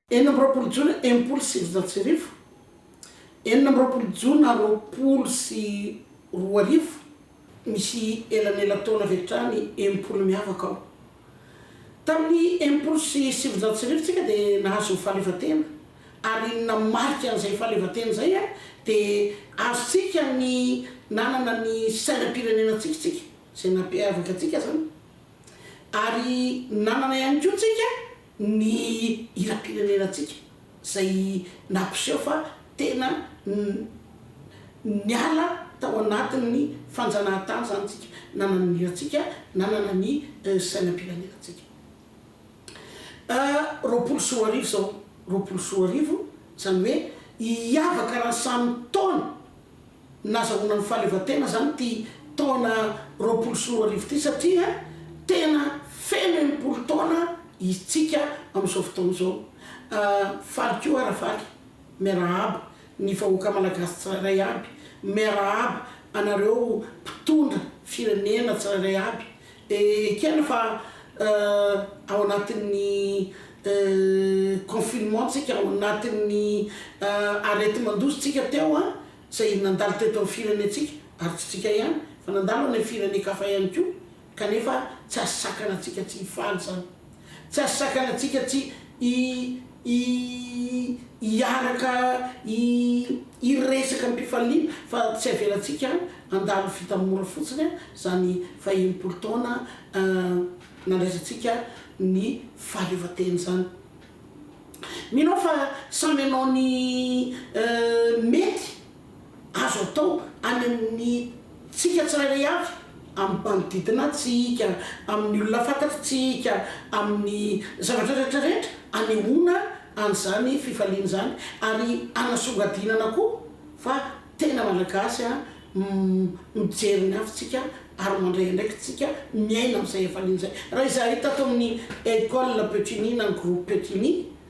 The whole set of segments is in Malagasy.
Enina amby roapolo jona enimpolo sy sivinjato sy arivo, Enina amby roapolo jona roapolo sy roa arivo. Misy elanelan-taona avy hatrany enimpolo miavaka aho. Tamin'ny enimpolo sy sivinjato sy arivo tsika dia nahazo ny fahaleovantena, ary ny namarika an'izay fahaleovantena izay dia azontsika ny nanana ny sainam-pirenena antsika tsika, izay nampiavaka antsika izany, ary nanana ihany koa tsika, ny hiram-pirenenantsika izay nampiseho fa tena niala tao anatin'ny fanjanahantany izany isika, nanana ny hirantsika, nanana ny sainam-pirenenantsika. Roapolo sy roa arivo izao, roapolo sy roa arivo, izany hoe hiavaka raha ny samy taona. nazahoana ny fahaleovantena izany ity taona roapolo sy roa arivo ity satria tena feno enimpolo taona istsika amin'izao fotoana izao. Faly koa Rafaly, miarahaba ny vahoaka malagasy tsirairay aby, miarahaba anareo mpitondra firenena tsirairay aby, Dia ekena fa ao anatin'ny confinement-ntsika, ao anatin'ny areti-mandositsika teo izay nandalo teto amin'ny firenentsika, ary tsy isika ihany fa nandalo any amin'ny firenen-kafa ihany koa, kanefa tsy azo sakana antsika tsy hifaly izany. Tsy azo sakanantsika tsy hi hi hiaraka hi hiresaka am-pifaliana fa tsy avelantsika handalo vita mora fotsiny izany fahenimpolo taona nandraisantsika ny fahaleovantena izany. Mino aho fa samy hanao ny mety. azo atao any amin'ny tsika tsirairay avy, amin'ny manodidina tsika, amin'ny olona fantatritsika, amin'ny zavatra rehetra rehetra, anehoana an'izany fifaliana izany ary anasongadinana koa fa tena Malagasy an, mijery ny hafa tsika ary mandray andraikitra tsika, miaina amin'izay hafaliana izay. Raha izahay tato amin'ny Ecole Petit Ny na ny Groupe Petit Ny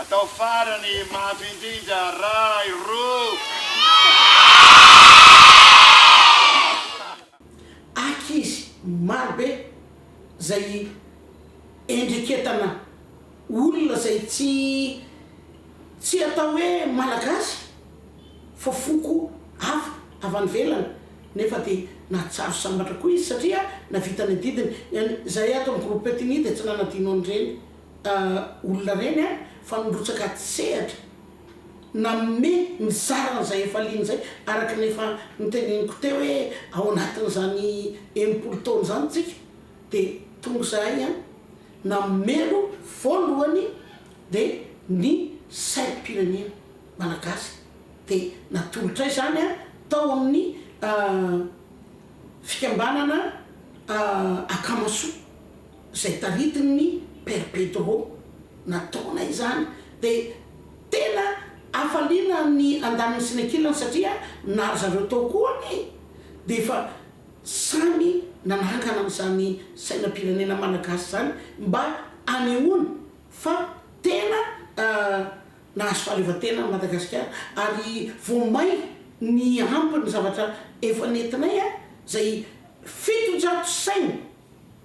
Atao farany mafy indrindra ray roa. Ankizy marobe izay endreketana Olona izay tsy tsy atao hoe malagasy fa foko hafa avy any ivelany nefa dia nahatsaro sambatra koa izy satria nahavita ny adidiny. Izahay ato amin'ny groupe Petini dia tsy nanadino an'ireny olona ireny an, fa nirotsaka an-tsehatra nanome ny sarany izay efa liana izay araka ny efa noteneniko teo hoe ao anatin'izany enimpolo taona izany isika Dia tonga izahay an! Namelo voalohany dia ny sainam-pirenena malagasy dia natolotray izany an! tao amin'ny fikambanana Akamasoa izay taritin'ny Père Pedro nataonay izany dia tena hafaliana ny andaniny sy ny ankilany satria na ry zareo tao koa anie dia efa Samy nanahakana an'izany sainam-pirenena malagasy izany mba hanehoana fa tena nahazo fahaleovantena an'i Madagasikara ary vao may niampy ny zavatra efa nentinay izay fitonjato saina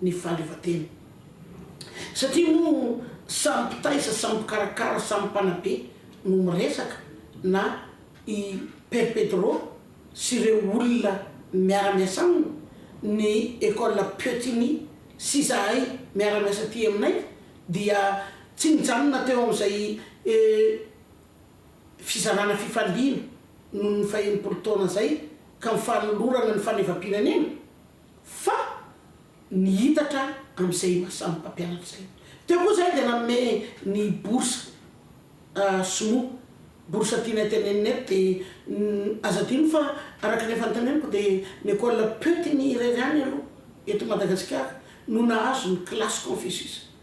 ny fahaleovantena. Satria moa samy mpitaiza, samy mpikarakara, samy mpanabe no miresaka na i Père Pedro sy ireo olona miara-miasa aminy, ny Ecole Piottini sy izahay miara-miasa aty aminay dia tsy nijanona teo amin'izay fizarana fifaliana noho ny fahenimpolo taona izay ka ny fanolorana ny fahaleovampirenena. Fa ny hitatra amin'izay maha samy mpampianatra izay. Teo koa izahay dia nanome ny bourse sinoa, bourse tiana itenenina eto dia aza adino fa araka ny efa noteneniko dia ny école Peutingnies irery ihany aloha eto Madagasikara no nahazo ny classe Confucius.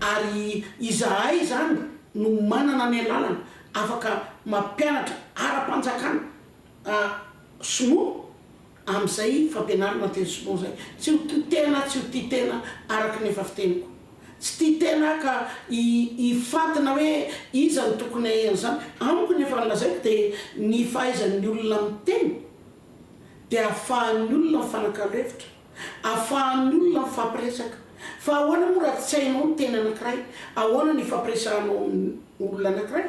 Ary izahay izany no manana ny alalana afaka mampianatra ara-panjakana sinoa? Amin'izay fampianarana teny sinoa izay, tsy ho tia tena, tsy ho tia tena araka ny efa fiteniko. Tsy tia tena aho ka hi, hifantina hoe iza no tokony hahay an'izany. Amiko ny efa nolazaiko dia ny fahaizan'ny olona miteny dia ahafahan'ny olona mifanakalo hevitra, ahafahan'ny olona mifampiresaka. Fa ahoana moa raha tsy hainao ny teny anankiray? Ahoana no hifampiresahanao amin'ny olona anankiray?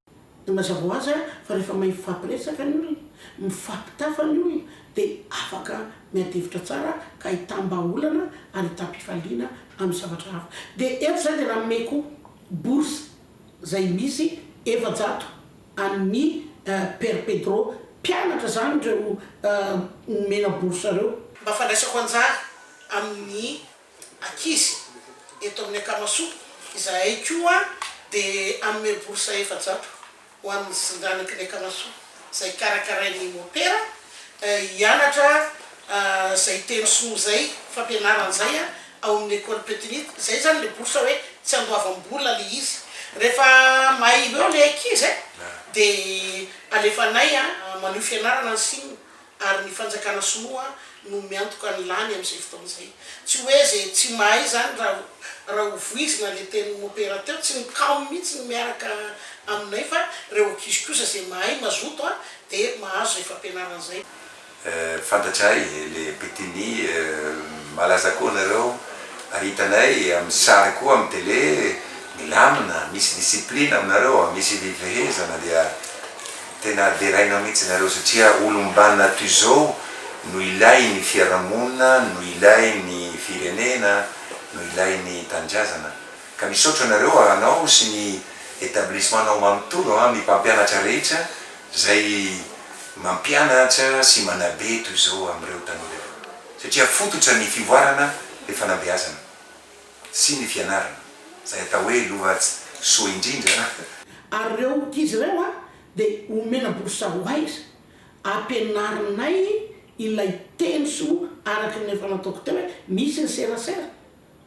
Dia mazava ho azy fa rehefa mahay mifampiresaka ny olona, mifampitafa ny olona dia afaka miady hevitra tsara ka hitam-bahaolana ary hitam-pifaliana amin'ny zavatra hafa. Dia eto izahay dia nanome koa bourse izay misy efajato an'ny Père Pedro, mpianatra izany ireo nomena bourse ireo, mba fandraisako anjara amin'ny ankizy eto amin'ny Akamasoa, izahay koa dia hanome bourse efajato ho an'ny zandanaky ny Akamasoa izay karakarain'ny mopera hianatra izay teny sinoa izay, fampianarana izay ao amin'ny Ecole Petinite, izay izany ilay bourse hoe tsy handoavam-bola ilay izy, rehefa mahailo eo ilay ankizy dia alefanay manio fianarana any sinoa ary ny fanjakana sinoa no miantoka ny lany amin'izay fotoana izay. Tsy hoe izay tsy mahay izany raha raha ho voizina ilay tenin'i Mopera teo, tsy ny Cam mihitsy no miaraka aminay fa ireo ankizy kosa izay mahay mazoto an dia mahazo izay fampianarana izay. Eh, fantatray le Betini eh, malaza koa nareo ary hitanay amin'ny sary koa amin'ny tele, milamina, misy discipline aminareo, misy fifehezana dia. Tena deraina mihitsy nareo satria olombanona toy izao no ilainy fiarahamonina, no ilainy firenena, no ilainy tanindrazana. Ka misaotra anareo anao sy ny etablissement nao manontolo an, ny mpampianatra rehetra zay mampianatra sy manabe toy izao amreo tanora ireo. Satria fototra ny fivoarana le fanabeazana. sy ny fianarana, izay atao hoe Lovatsy soa indrindra. Ary ireo ankizy ireo dia omena bourse ho aiza? Ampianarinay ilay teny soa araka ny efa nataoko teo hoe misy ny serasera,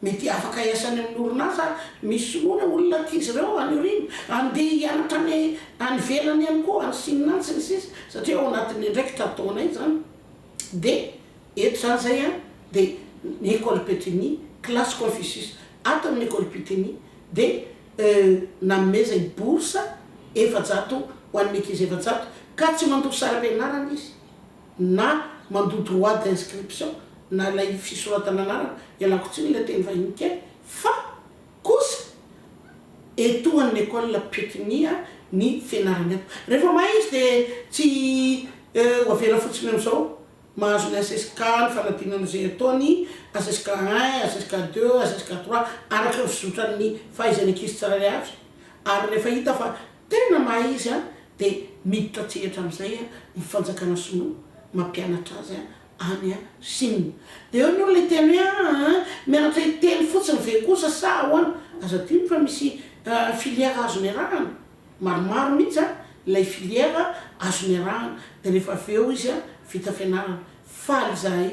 mety afaka hiasa any amin'ny orinasa misy soloina olona ankizy ireo any aoriana, handeha hianatra any ivelany ihany koa, any Chine any, sy ny sisa, satria ao anatin'ny andraikitra ataonay izany. Dia eto izany izay an, dia ny Ecole Pétunie, classe Confucius ato amin'ny Ecole Puteini dia nanomezany bourse efajato ho an'ny ankizy efajato ka tsy mandoa saram-pianarana izy na mandoa droit d'inscription na ilay fisoratana anarana, ialako tsiny ilay teny vahiny kely fa. Kosa etoan ny ecole pekiniha ny fianarana eto. Rehefa mahay izy dia tsy ho avela fotsiny amizao. Mahazo ny HSK ny fanadinana izay ataony, HSK un, HSK deux, HSK trois araka ny fizotran ny fahaizany ankizy tsirairay avy. Ary rehefa hita fa tena mahay izy dia miditra an-tsehatra amizay ny fanjakana sinoa mampianatra azy any Chine. Dia eo ny olona hiteny hoe aa aa mianatra hiteny fotsiny ve kosa sa ahoana? Aza adino fa misy filière azo niarahana, maromaro mihitsy an ilay filière azo niarahana dia rehefa avy eo izy an vita fianarana. Faly izahay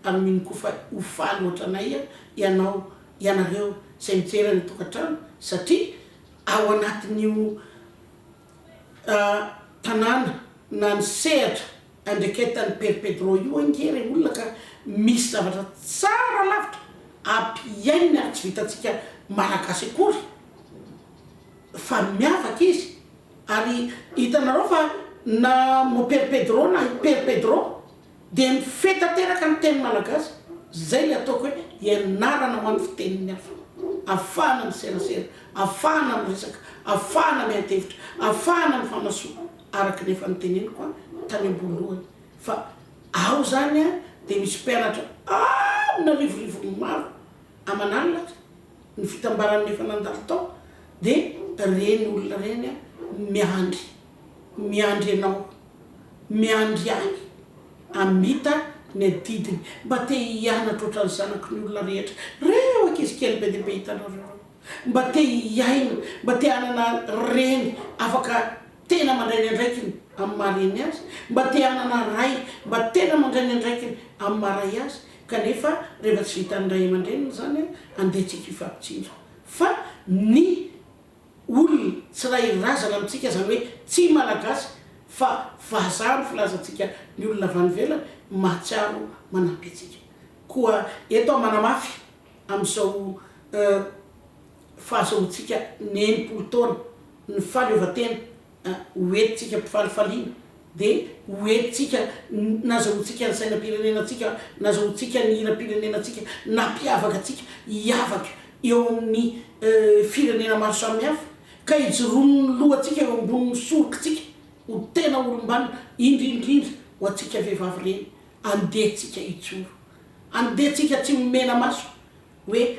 amin'iny koa fa ho faly ohatranay ianao, ianareo izay mijery any an-tokantrano satria ao anatin'io. tanàna na ny sehatra andreketan'i Père Pedro io ange re olona ka misy zavatra tsara lavitra ampihaininy ary tsy vitantsika malagasy akory fa miavaka izy ary hitanareo fa na Père Pedro na i Père Pedro Dia mifehy tanteraka ny teny malagasy, izay ilay ataoko hoe ianarana ho an'ny fitenin'ny hafa. Afahana miserasera, afahana miresaka, afahana miadi-hevitra, afahana mifanasoa, araka ny efa noteneniko tany am-boalohany fa ao izany dia misy mpianatra amina rivorivony maro aman'alina ary ny fitambaran'ny efa nandalo tao dia ireny olona ireny miandry. miandry anao miandry ihany hamita ny adidiny mba te hianatra ohatran'ny zanaky ny olona rehetra reo ankizy kely be dia be hitanareo reo mba te hiaina mba te hanana reny afaka tena mandray ny andraikiny amin'ny maha reny azy mba te hanana ray mba tena mandray ny andraikiny amin'ny maha ray azy kanefa rehefa tsy vitan'ny ray aman-dreniny izany a andeha tsika hifampitsinjo fa ny olona tsirairy razana amintsika izany hoe tsy Malagasy fa vazaha ny filazantsika ny olona avy any ivelany mahatsiaro manampy antsika koa eto aho manamafy amin'izao fahazoantsika ny enimpolo taona ny fahaleovantena ho entintsika am-pifalifaliana, dia ho entintsika nazahoantsika ny sainam-pirenenantsika, nazahoantsika ny hiram-pirenenantsika, nampiavaka antsika hiavaka eo amin'ny firenena maro samihafa, ka hijoroan'ny lohantsika eo ambonin'ny sorokitsika ho tena olom-banona, indrindrindra ho antsika vehivavy ireny. Andeha tsika hijoro, andeha tsika tsy mena-maso hoe.